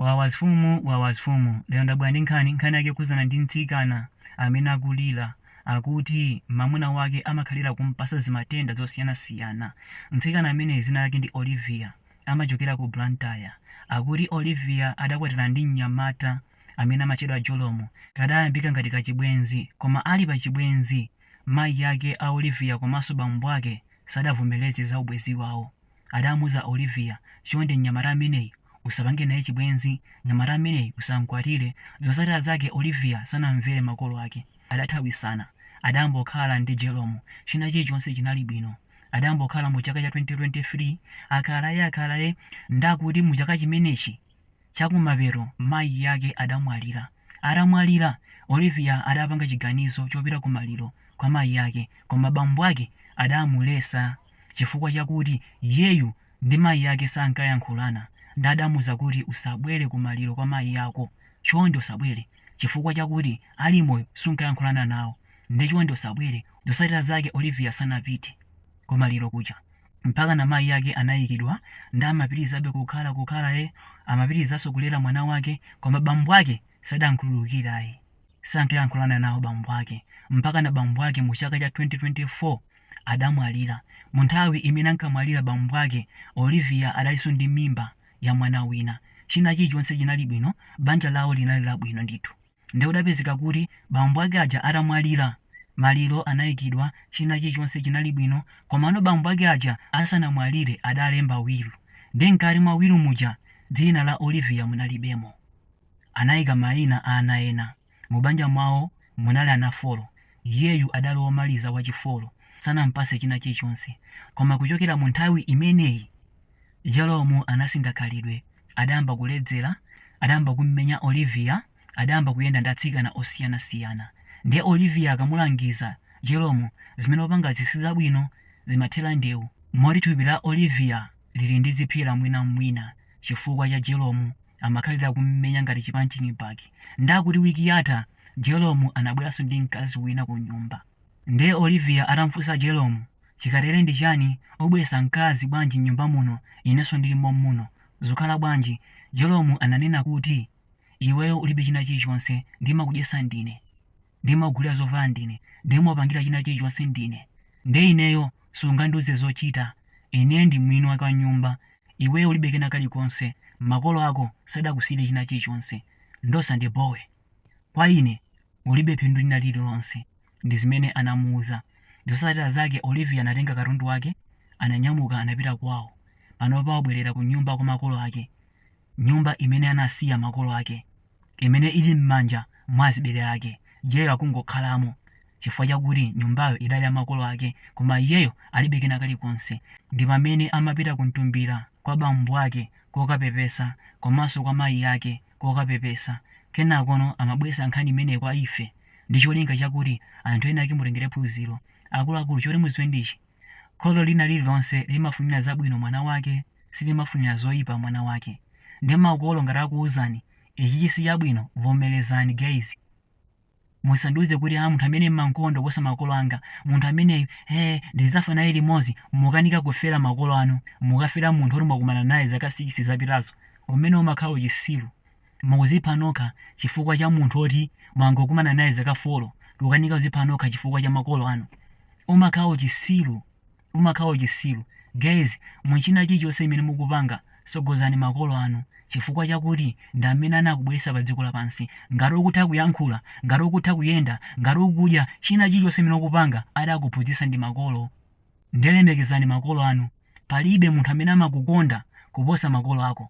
Wawa zfumu wawa zfumu lero ndabwera ndi nkhani nkhani yake yokhudzana ndi mtsikana amene akulira akuti mamuna wake amakhalira kumpasa zimatenda zosiyana siyana mtsikana ameneyi zina lake ndi Olivia amachokera ku Blantyre akuti Olivia adakwatirana ndi mnyamata amene amachedwa Jerome kadayambika ngati kachibwenzi koma ali pa chibwenzi mayi ake a Olivia komanso bambo ake sadavomereze za ubwenzi wawo adamuuza Olivia, chonde mnyamata ameneyu usapange naye chibwenzi, mnyamata ameneyu usamkwatire, zotsatira zake Olivia sanamvere makolo ake, adathawitsana, adayambokhala ndi Jerome, china chilichonse chinali bwino, adayambokhala mu chaka cha 2023, akhalae akhalae, ndakuti mu chaka chimenechi, Chakumapeto mayi ake adamwalira. Atamwalira, Olivia adapanga chiganizo chopita kumaliro kwa mayi ake koma bambo ake adamuletsa chifukwa chakuti iyeyu ndi mayi ake sankayankhulana nde adamuza kuti usabwere kumaliro kwa mayi ako chonde usabwere chifukwa chakuti ali moyo sunkayankhulana nawo nde chonde usabwere. Zosatira zake Olivia sanapite kumaliro kuja. mpakana mayi ake anayikidwa nde amapitilizabe kukhala kukhala e amapitilizaso kulera mwana wake koma bambo ake sadamkhululukire ayi sankayankhulana nawo bambo ake mpakana bambo ake mu chaka cha 2024 adamwalira mu nthawi imene ankamwalira bambo ake Olivia adaliso ndi mimba ya mwana wina china chilichonse chinali bwino banja lawo linali labwino ndithu Nde kudapezeka kuti bambo ake aja atamwalira, maliro anaikidwa, china chilichonse chinali bwino, komano bambo ake aja asanamwalire adalemba will, nde mkati mwa will muja dzina la Olivia munalibemo. Anaika maina a ana ena. Mubanja mwawo munali ana folo, iyeyu adali womaliza, wachifolo, sanampase china chilichonse. Koma kuchokera munthawi imeneyi. Jerome anasintha khalidwe. Adayamba kuledzera, adayamba kummenya Olivia, adayamba kuyenda ndi atsikana osiyanasiyana. Ndiye Olivia akamulangiza Jerome, zimene ukupangazi si zabwino, zimathera ndewu. Moti thupi la Olivia lili ndi zipsera mwinamwina chifukwa cha Jerome. Amakhalira kummenya ngati chipunching bag. Ndiye akuti wiki yatha Jerome anabweranso ndi mkazi wina kunyumba. Nde Olivia atamfusa Jerome, chikatere ndi chani obweresa mkazi bwanji mnyumba muno ineso ndili mommuno zukhala bwanji, Jerome ananena kuti iweyo ulibe china chilichonse ndimakudyesa ndine, ndimakugulira zovala ndine, ndimakupangira china chilichonse ndine nde ineyo sungandiuze zochita ine ndi mwini wake wa nyumba iweyo ulibe kena kalikonse makolo ako sadakusiyire china chilichonse nde usandibowe. Kwa ine, ulibe phindu lina lililonse. Ndi zimene anamuuza. Zotsatira zake Olivia anatenga katundu wake, ananyamuka anapita kwawo. Panopa wabwerera kunyumba kwa makolo ake, nyumba imene anasiya makolo ake, imene ili m'manja mwa azibale ake. Iyeyo akungokhalamo chifukwa chakuti nyumbayo idali ya makolo ake koma iyeyo alibe kena kalikonse. Ndi pamene amapita kumtumbira kwa bambo ake kokapepesa komanso kwa mayi ake. kokapepesa. Kenakono amabweretsa nkhani imeneyi kwa ife ndi cholinga chakuti anthu ena ake mutengere phunziro. Akuluakulu, choti mudziwe ndi ichi, kholo lina lililonse limafunira zabwino mwana wake, silimafunira zoipa mwana wake. Nde makolo ngati akuuzani, ichichi sichabwino, vomerezani guys. Musandiuze kuti, Aa, munthu ameneyu m'mamkonda kuposa makolo anga, munthu ameneyu, ee, ndidzafa naye limodzi. Mukanika kufera makolo anu, mukafera munthu woti mwakumana naye zaka 6 zapitazo, umenewo umakhala uchitsiru. Mukuzipha nokha chifukwa cha munthu woti mwangokumana naye zaka folo, kukanika kuzipha nokha chifukwa cha makolo anu, umakhala uchitsiru. umakhala uchisilu guys muchina chilichonse chimene mukupanga sogozani makolo anu chifukwa chakuti ndi amene anakubweresa pa dziko lapansi ngati ukutha kuyankhula ngati ukutha kuyenda ngati ukudya china chilichonse chimene ukupanga adakuphunzisa ndi makolo nde lemekezani makolo anu palibe munthu amene amakukonda kuposa makolo ako.